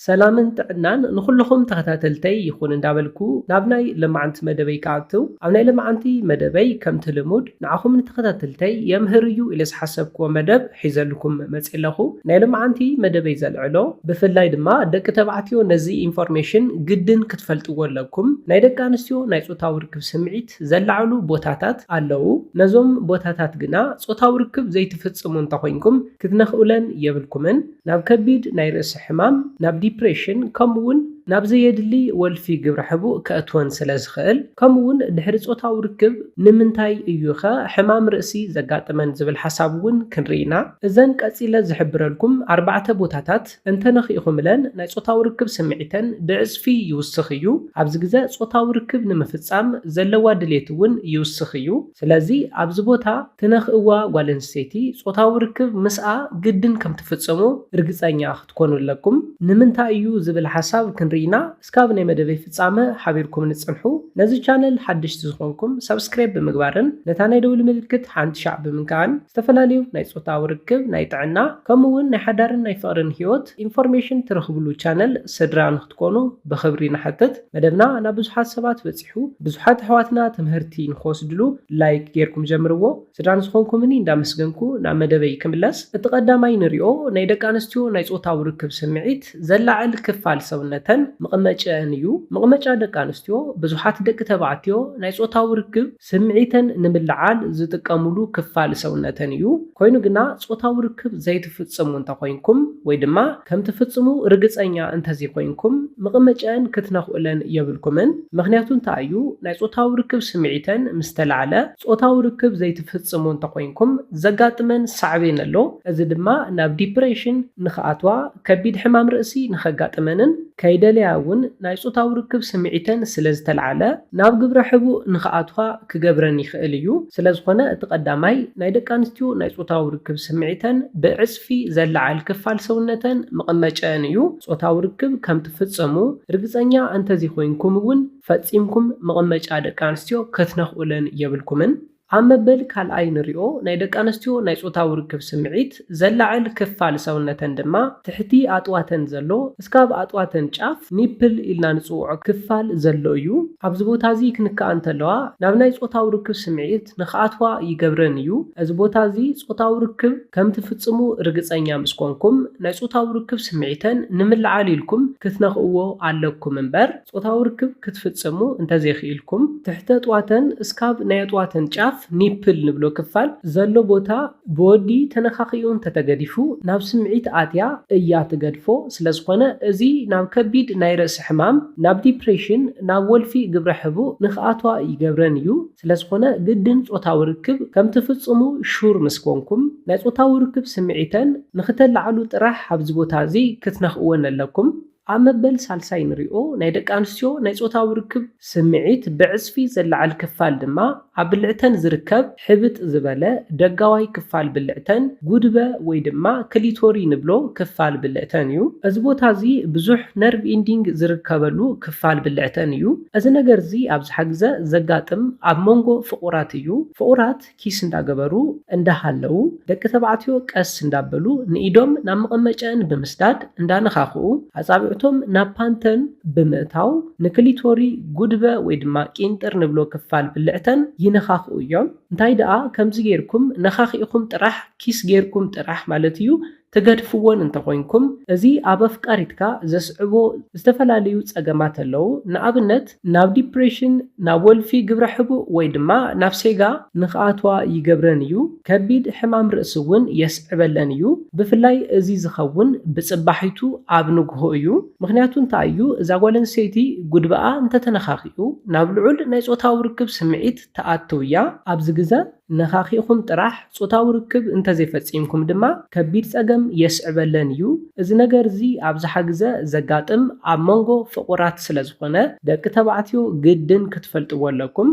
ሰላምን ጥዕናን ንኹሉኹም ተኸታተልተይ ይኹን እንዳበልኩ ናብ ናይ ለማዓንቲ መደበይ ክኣትው ኣብ ናይ ለማዓንቲ መደበይ ከምቲ ልሙድ ንዓኹም ንተኸታተልተይ የምህር እዩ ኢለ ዝሓሰብክዎ መደብ ሒዘልኩም መጽየ ኣለኹ ናይ ለማዓንቲ መደበይ ዘልዕሎ ብፍላይ ድማ ደቂ ተባዕትዮ ነዚ ኢንፎርሜሽን ግድን ክትፈልጥዎ ኣለኩም ናይ ደቂ ኣንስትዮ ናይ ጾታዊ ርክብ ስምዒት ዘላዕሉ ቦታታት ኣለው ነዞም ቦታታት ግና ጾታዊ ርክብ ዘይትፍጽሙ እንተኾይንኩም ክትነኽኡለን የብልኩምን ናብ ከቢድ ናይ ርእሲ ሕማም፣ ናብ ዲፕሬሽን ከምኡ'ውን ናብ ዘየድሊ ወልፊ ግብረ ሕቡእ ከእትወን ስለ ዝኽእል፣ ከምኡ'ውን ድሕሪ ጾታዊ ርክብ ንምንታይ እዩ'ኸ ሕማም ርእሲ ዘጋጥመን ዝብል ሓሳብ እውን ክንርኢ ኢና። እዘን ቀጺለ ዝሕብረልኩም ኣርባዕተ ቦታታት እንተ ነኺእኹምለን ናይ ጾታዊ ርክብ ስምዒተን ብዕጽፊ ይውስኽ እዩ፣ ኣብዚ ግዘ ጾታዊ ርክብ ንምፍጻም ዘለዋ ድሌት እውን ይውስኽ እዩ። ስለዚ ኣብዚ ቦታ ትነኽእዋ ጓል ኣንስተይቲ ጾታዊ ርክብ ምስኣ ግድን ከም ትፍጽሙ ርግጸኛ ክትኮኑ ኣለኩም። ንምንታይ እዩ ዝብል ሓሳብ ክንርኢ ኢና እስካብ ናይ መደበይ ፍጻመ ሓቢርኩምኒ ጽንሑ። ነዚ ቻነል ሓደሽቲ ዝኾንኩም ሳብስክራይብ ብምግባርን ነታ ናይ ደውሊ ምልክት ሓንቲ ሻዕ ብምንካእን ዝተፈላለዩ ናይ ጾታዊ ርክብ ናይ ጥዕና ከምኡ ውን ናይ ሓዳርን ናይ ፍቕርን ሂወት ኢንፎርሜሽን ትረኽብሉ ቻነል ስድራ ክትኮኑ ብኽብሪ ንሓትት። መደብና ናብ ብዙሓት ሰባት በጺሑ ብዙሓት ኣሕዋትና ትምህርቲ ንኽወስድሉ ላይክ ጌርኩም ጀምርዎ። ስድራ ንዝኾንኩምኒ እንዳመስገንኩ ናብ መደበይ ክምለስ እቲ ቀዳማይ ንሪኦ ናይ ደቂ ኣንስትዮ ናይ ጾታዊ ርክብ ስምዒት ዘላዕል ክፋል ሰውነተን መቐመጭኣን እዩ። መቐመጫ ደቂ ኣንስትዮ ብዙሓት ደቂ ተባዕትዮ ናይ ጾታዊ ርክብ ስምዒተን ንምልዓል ዝጥቀምሉ ክፋል ሰውነተን እዩ። ኮይኑ ግና ጾታዊ ርክብ ዘይትፍጽሙ እንተኾይንኩም ወይ ድማ ከም ትፍጽሙ ርግጸኛ እንተዝይኮይንኩም ምቕመጨኣን ክትነኽኡለን የብልኩምን። ምኽንያቱ እንታይ እዩ? ናይ ጾታዊ ርክብ ስምዒተን ምስ ተላዕለ ጾታዊ ርክብ ዘይትፍጽሙ እንተኾይንኩም ዘጋጥመን ሳዕቤን ኣሎ። እዚ ድማ ናብ ዲፕሬሽን ንኽኣትዋ፣ ከቢድ ሕማም ርእሲ ንኸጋጥመንን፣ ከይደለያ እውን ናይ ጾታዊ ርክብ ስምዒተን ስለ ዝተልዓለ፣ ናብ ግብረ ሕቡእ ንኽኣትዋ ክገብረን ይኽእል እዩ። ስለ ዝኾነ እቲ ቀዳማይ ናይ ደቂ ኣንስትዮ ናይ ጾታዊ ርክብ ስምዒተን ብዕጽፊ ዘለዓል ክፋል ሰውነተን መቐመጨኣን እዩ። ጾታዊ ርክብ ከም ትፍጽሙ ርግጸኛ እንተዘይኮይንኩም እውን ፈጺምኩም መቐመጫ ደቂ ኣንስትዮ ክትነኽኡለን የብልኩምን። ኣብ መበል ካልኣይ ንሪኦ ናይ ደቂ ኣንስትዮ ናይ ጾታዊ ርክብ ስምዒት ዘላዕል ክፋል ሰውነተን ድማ ትሕቲ ኣጥዋተን ዘሎ እስካብ ኣጥዋተን ጫፍ፣ ኒፕል፣ ኢልና ንጽውዖ ክፋል ዘሎ እዩ። ኣብዚ ቦታ እዚ ክንክኣ እንተለዋ ናብ ናይ ጾታዊ ርክብ ስምዒት ንክኣትዋ ይገብረን እዩ። እዚ ቦታ እዚ ጾታዊ ርክብ ከም ትፍጽሙ ርግጸኛ ምስ ኮንኩም ናይ ጾታዊ ርክብ ስምዒተን ንምልዓል ኢልኩም ክትነክእዎ ኣለኩም እምበር፣ ጾታዊ ርክብ ክትፍጽሙ እንተ ዜኽኢልኩም፣ ትሕተ ጥዋተን እስካብ ናይ ኣጥዋተን ጫፍ፣ ኒፕል ንብሎ ክፋል፣ ዘሎ ቦታ ብወዲ ተነኻኺኡ እንተ ተገዲፉ፣ ናብ ስምዒት ኣትያ እያ ትገድፎ፣ ስለ ዝኾነ እዚ ናብ ከቢድ ናይ ርእሲ ሕማም፣ ናብ ዲፕሬሽን፣ ናብ ወልፊ ግብረ ሕቡእ ንኽኣትዋ ይገብረን እዩ። ስለ ዝኾነ ግድን ጾታዊ ርክብ ከም ትፍጽሙ ሹር ምስ ኮንኩም፣ ናይ ጾታዊ ርክብ ስምዒተን ንኽተላዕሉ ጥራሕ ኣብዚ ቦታ እዚ ክትነኽእወን ኣለኩም። ኣብ መበል ሳልሳይ ንሪኦ ናይ ደቂ ኣንስትዮ ናይ ፆታዊ ርክብ ስምዒት ብዕፅፊ ዘለዓል ክፋል ድማ ኣብ ብልዕተን ዝርከብ ሕብጥ ዝበለ ደጋዋይ ክፋል ብልዕተን፣ ጉድበ ወይ ድማ ክሊቶሪ ንብሎ ክፋል ብልዕተን እዩ። እዚ ቦታ እዚ ብዙሕ ነርቭ ኢንዲንግ ዝርከበሉ ክፋል ብልዕተን እዩ። እዚ ነገር እዚ ኣብዝሓ ግዘ ዘጋጥም ኣብ ሞንጎ ፍቑራት እዩ። ፍቑራት። ኪስ እንዳገበሩ እንዳሃለዉ ደቂ ተባዕትዮ ቀስ እንዳበሉ ንኢዶም ናብ መቐመጨኣን ብምስዳድ እንዳነኻኽኡ ኣጻብዕቶም ናብ ፓንተን ብምእታው ንክሊቶሪ፣ ጉድበ ወይ ድማ ቂንጥር ንብሎ ክፋል ብልዕተን ይነኻኽኡ እዮም። እንታይ ደኣ ከምዚ ጌርኩም ነኻኺእኹም ጥራሕ ኪስ ጌርኩም ጥራሕ ማለት እዩ ትገድፍዎን እንተኾይንኩም እዚ ኣብ ኣፍቃሪትካ ዘስዕቦ ዝተፈላለዩ ጸገማት ኣለው፣ ንኣብነት ናብ ዲፕሬሽን፣ ናብ ወልፊ ግብረ ሕቡእ ወይ ድማ ናብ ሴጋ ንኽኣትዋ ይገብረን እዩ። ከቢድ ሕማም ርእሲ እውን የስዕበለን እዩ፣ ብፍላይ እዚ ዝኸውን ብጽባሒቱ ኣብ ንግሆ እዩ፣ ምኽንያቱ እንታይ እዩ እዛ ጓል ኣንስተይቲ ጉድበኣ እንተተነኻኺኡ ናብ ልዑል ናይ ጾታዊ ርክብ ስምዒት ትኣትው እያ፣ ኣብዚ ግዘ። ነኻኺእኹም ጥራሕ ጾታዊ ርክብ እንተዘይፈጺምኩም ድማ ከቢድ ጸገም የስዕበለን እዩ። እዚ ነገር እዚ ኣብዝሓ ግዘ ዘጋጥም ኣብ መንጎ ፍቑራት ስለዝኾነ ደቂ ተባዕትዮ ግድን ክትፈልጥዎ ኣለኩም።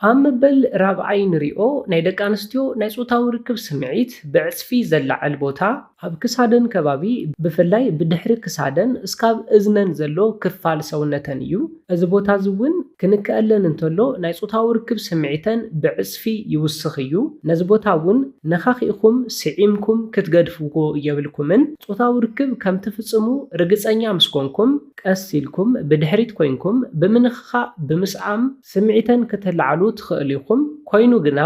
ኣብ መበል ራብዓይ ንሪኦ ናይ ደቂ ኣንስትዮ ናይ ጾታዊ ርክብ ስምዒት ብዕጽፊ ዘላዕል ቦታ። ኣብ ክሳደን ከባቢ ብፍላይ ብድሕሪ ክሳደን እስካብ እዝነን ዘሎ ክፋል ሰውነተን እዩ። እዚ ቦታ እዚ እውን ክንከኣለን እንተሎ ናይ ፆታዊ ርክብ ስምዒተን ብዕፅፊ ይውስኽ እዩ። ነዚ ቦታ እውን ነኻኺእኹም ስዒምኩም ክትገድፍዎ የብልኩምን። ፆታዊ ርክብ ከም ትፍፅሙ ርግፀኛ ምስ ኮንኩም ቀስ ኢልኩም ብድሕሪት ኮይንኩም ብምንኽኻእ፣ ብምስዓም፣ ስምዒተን ክተላዕሉ ትኽእሉ ኢኹም። ኮይኑ ግና።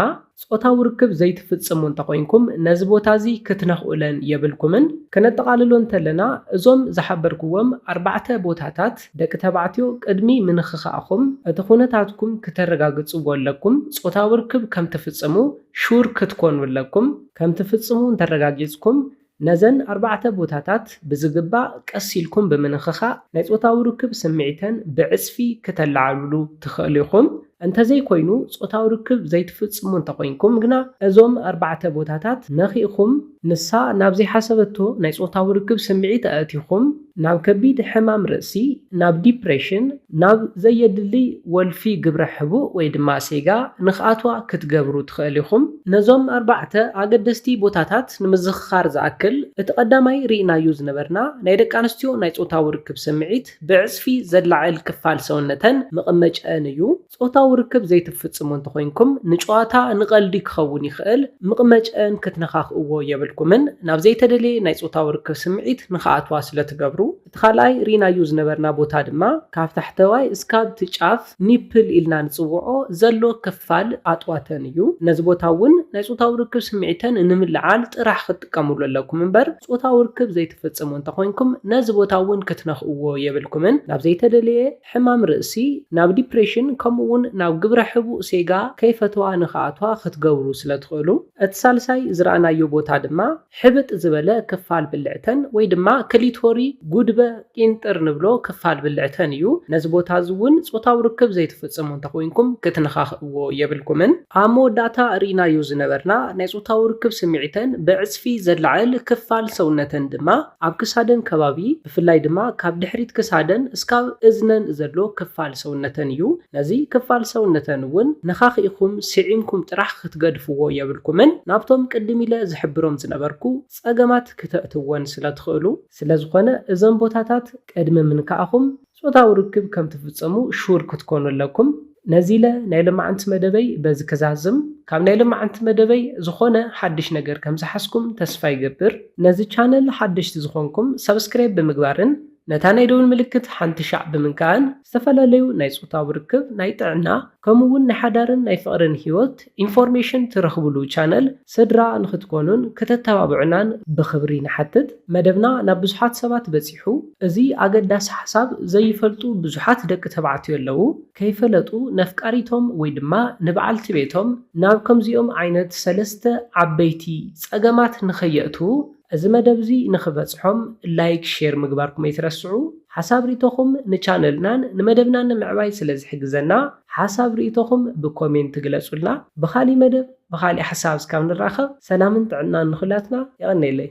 ጾታዊ ርክብ ዘይትፍጽሙ እንተኾይንኩም ነዚ ቦታ እዚ ክትነኽኡለን የብልኩምን። ከነጠቓልሎ እንተለና እዞም ዝሓበርኩዎም ኣርባዕተ ቦታታት ደቂ ተባዕትዮ ቅድሚ ምንኽኻእኹም እቲ ኩነታትኩም ክተረጋግጽዎ ኣለኩም፣ ጾታዊ ርክብ ከም ትፍጽሙ ሹር ክትኮኑ ኣለኩም፣ ከም ትፍጽሙ እንተረጋጊጽኩም ነዘን ኣርባዕተ ቦታታት ብዝግባእ ቀስ ኢልኩም ብምንኽኻእ ናይ ጾታዊ ርክብ ስምዒተን ብዕጽፊ ክተለዓልውሉ ትኸእሉ ኢኹም። እንተዘይኮይኑ ጾታዊ ርክብ ዘይትፍጽሙ እንተኾይንኩም ግና እዞም ኣርባዕተ ቦታታት ነኺእኹም ንሳ ናብ ዘይሓሰበቶ ናይ ጾታዊ ርክብ ስምዒት ኣእቲኹም፣ ናብ ከቢድ ሕማም ርእሲ፣ ናብ ዲፕሬሽን፣ ናብ ዘየድልይ ወልፊ ግብረ ሕቡእ ወይ ድማ ሴጋ ንክኣትዋ ክትገብሩ ትኸእል ኢኹም። ነዞም ኣርባዕተ ኣገደስቲ ቦታታት ንምዝኽኻር ዝኣክል፣ እቲ ቀዳማይ ርኢናዩ ዝነበርና ናይ ደቂ ኣንስትዮ ናይ ጾታዊ ርክብ ስምዒት ብዕጽፊ ዘላዕል ክፋል ሰውነተን፣ መቐመጭኣን፣ እዩ። ጾታዊ ርክብ ዘይትፍጽሙ እንተኾይንኩም፣ ንጨዋታ፣ ንቐልዲ ክኸውን ይኽእል፣ ምቕመጨኣን ክትነኻኽእዎ የብልኩምን፣ ናብ ዘይተደልየ ናይ ጾታዊ ርክብ ስምዒት ንኽኣትዋ ስለ ትገብሩ። እቲ ካልኣይ ርኢናዮ ዝነበርና ቦታ ድማ ካብ ታሕተዋይ እስካብ እቲ ጫፍ፣ ኒፕል ኢልና ንጽውዖ፣ ዘሎ ክፋል ኣጥዋተን እዩ። ነዚ ቦታ እውን ናይ ጾታዊ ርክብ ስምዒተን ንምልዓል ጥራሕ ክትጥቀምሉ ኣለኩም እምበር፣ ጾታዊ ርክብ ዘይትፍጽሙ እንተኾይንኩም፣ ነዚ ቦታ እውን ክትነኽእዎ የብልኩምን፣ ናብ ዘይተደልየ። ሕማም ርእሲ፣ ናብ ዲፕሬሽን ከምኡ'ውን ናብ ግብረ ሕቡእ ሴጋ ከይፈተዋ ንክኣትዋ ክትገብሩ ስለ ትኽእሉ። እቲ ሳልሳይ ዝረኣናዮ ቦታ ድማ ሕብጥ ዝበለ ክፋል ብልዕተን ወይ ድማ ክሊቶሪ፣ ጉድበ፣ ቂንጥር ንብሎ ክፋል ብልዕተን እዩ። ነዚ ቦታ እዚ እውን ጾታዊ ርክብ ዘይትፍጽሙ እንተ ኾይንኩም ክትነኻኽእዎ የብልኩምን። ኣብ መወዳእታ ርኢናዮ ዝነበርና ናይ ጾታዊ ርክብ ስምዒተን ብዕጽፊ ዘላዕል ክፋል ሰውነተን ድማ ኣብ ክሳደን ከባቢ፣ ብፍላይ ድማ ካብ ድሕሪት ክሳደን እስካብ እዝነን ዘሎ ክፋል ሰውነተን እዩ። ነዚ ክፋል ሰውነተን እውን ነኻኺእኹም ስዒምኩም ጥራሕ ክትገድፍዎ የብልኩምን ናብቶም ቅድም ኢለ ዝሕብሮም ዝነበርኩ ፀገማት ክተእትዎን ስለትኽእሉ። ስለዝኾነ እዞም ቦታታት ቅድሚ ምንካእኹም ፆታዊ ርክብ ከምትፍፀሙ ሹር ክትኮኑ ኣለኩም። ነዚለ ናይ ለማዓንቲ መደበይ በዚ ክዛዝም ካብ ናይ ለማዓንቲ መደበይ ዝኮነ ሓድሽ ነገር ከም ዝሓዝኩም ተስፋ ይገብር። ነዚ ቻነል ሓደሽቲ ዝኮንኩም ሳብስክራይብ ብምግባርን ነታ ናይ ደውል ምልክት ሓንቲ ሻዕ ብምንካእን ዝተፈላለዩ ናይ ጾታዊ ርክብ ናይ ጥዕና ከምኡ ውን ናይ ሓዳርን ናይ ፍቅርን ሂወት ኢንፎርሜሽን ትረኽብሉ ቻነል ስድራ ንኽትኮኑን ክተተባብዑናን ብኽብሪ ንሓትት። መደብና ናብ ብዙሓት ሰባት በጺሑ። እዚ ኣገዳሲ ሓሳብ ዘይፈልጡ ብዙሓት ደቂ ተባዕትዮ ኣለዉ። ከይፈለጡ ነፍቃሪቶም ወይ ድማ ንበዓልቲ ቤቶም ናብ ከምዚኦም ዓይነት ሰለስተ ዓበይቲ ጸገማት ንኸየእትዉ እዚ መደብ እዚ ንኽበጽሖም ላይክ ሼር ምግባርኩም ኣይትረስዑ። ሓሳብ ሪቶኹም ንቻነልናን ንመደብናን ንምዕባይ ስለ ዝሕግዘና ሓሳብ ሪኢቶኹም ብኮሜንት ግለጹልና ብኻሊእ መደብ ብኻሊእ ሓሳብ እስካብ ንራኸብ ሰላምን ጥዕናን ንኹላትና የቐኔለይ።